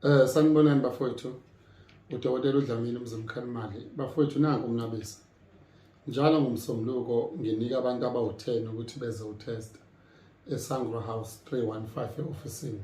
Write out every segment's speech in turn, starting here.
Eh sanibonani bafowethu. Udokotela uDlamini uMzimkhanimali. Bafowethu nanku umnqabisa. Njalo ngomsombuluko nginika abantu abawu-10 ukuthi beze utesta eSangro House 315 e-ofisini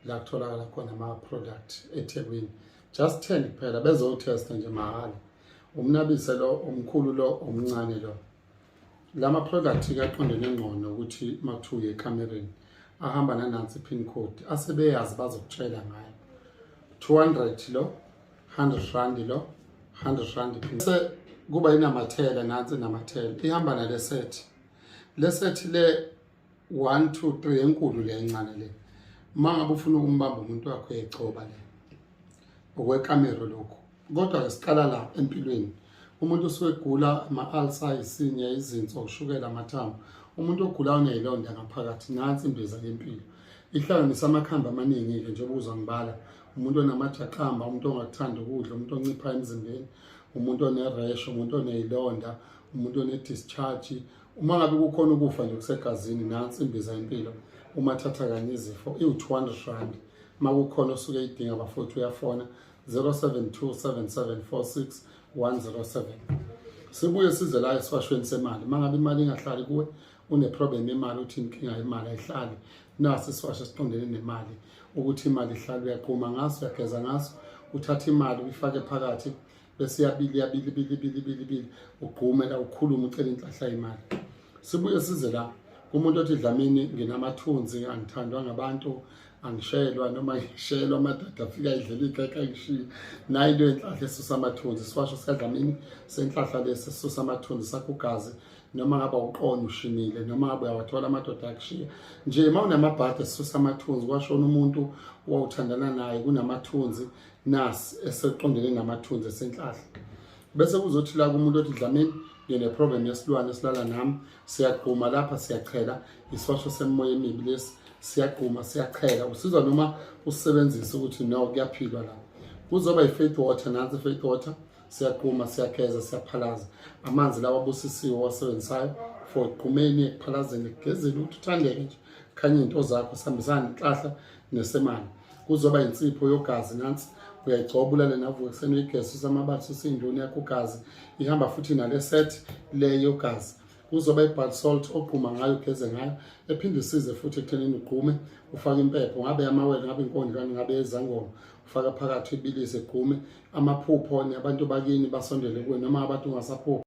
la kutholakala khona ama-product eThekwini. Just 10 kuphela bezotesta nje mahhala. Umnabise lo omkhulu lo omncane lo. lama product kaqondene ngcono ukuthi mathuye ekamereni ahamba nanansi pin code asebeyazi bazokutshela ngayo 200 lo 100 rand lo 100 rand pin se kuba inamathela nansi namathela ihamba nale set le set le one two three enkulu le encane le uma ngabe ufuna ukumbamba umuntu wakho uyayigcoba le okwekamero lokhu kodwa ke siqala la empilweni umuntu usuke egula ama-alsa isinya izinso ushukela amathambo umuntu ogula uneyilonda ngaphakathi nansi imbiza yempilo ihlanganisa amakhambi amaningi-ke njengoba uzwa ngibala umuntu onamajaqamba umuntu ongakuthanda ukudla umuntu oncipha emzimbeni umuntu oneresho umuntu oneyilonda umuntu one-discharge uma ngabe kukhona ukufa nje kusegazini nansi imbiza impilo uma thatha kanye izifo iwu-200 rand uma kukhona osuke idinga bafowethu uyafona 0727746107 sibuye size la esiwashweni semali uma ngabe imali ingahlali kuwe uneproblem yemali uthi inkinga yemali ayihlali nasi isiwasho siqondene nemali ukuthi imali ihlala uyaquma ngaso uyageza ngaso uthatha imali uyifake phakathi bese yabili yabili bili bili bili bili ugqume la ukhulume ucela inhlahla imali sibuye size la kumuntu othi dlamini nginamathunzi angithandwa ngabantu angishelwa noma ngishelwa amadoda afika idlela igeka ngishiye nayo into yenhlahla esusa amathunzi siwasho sikadlamini senhlahla lesi sisusa amathunzi sakho ugazi noma ngaba uqono ushimile noma ngabe uyawathola amadoda akushiya nje uma unamabhadi esisusa amathunzi kwashona umuntu owawuthandana naye kunamathunzi nasi eseqondene namathunzi esenhlahla bese kuzothi la kumuntu othi dlamini ngineproblem yesilwane esilala nami siyagquma lapha siyachela isosho semimoya emibi lesi siyagquma siyachela usizwa noma usebenzisa ukuthi no kuyaphilwa la kuzoba yi-faith water nansi faith water siyagquma siyageza siyaphalaza amanzi lawa abusisiwe owasebenzisayo for gqumeni ekuphalazeni ekugezeni ukuthi uthandeke nje khanye into zakho sihambisana nenhlahla nesemane kuzoba insipho yogazi nansi uyayigcoba ulale navuka ekuseni uyigesi usamabali susindoni yakho ugazi ihamba futhi nale set le yogazi kuzoba i-bad salt ogquma ngayo ugeze ngayo ephinde isize futhi ekuthenini ugqume ufake impepho ngabe amawele ngabe inkondlwane ngabe ezangoma ufaka phakathi ibilise gqume amaphupho abantu bakini basondele kuwe noma abantu ungasaphuphi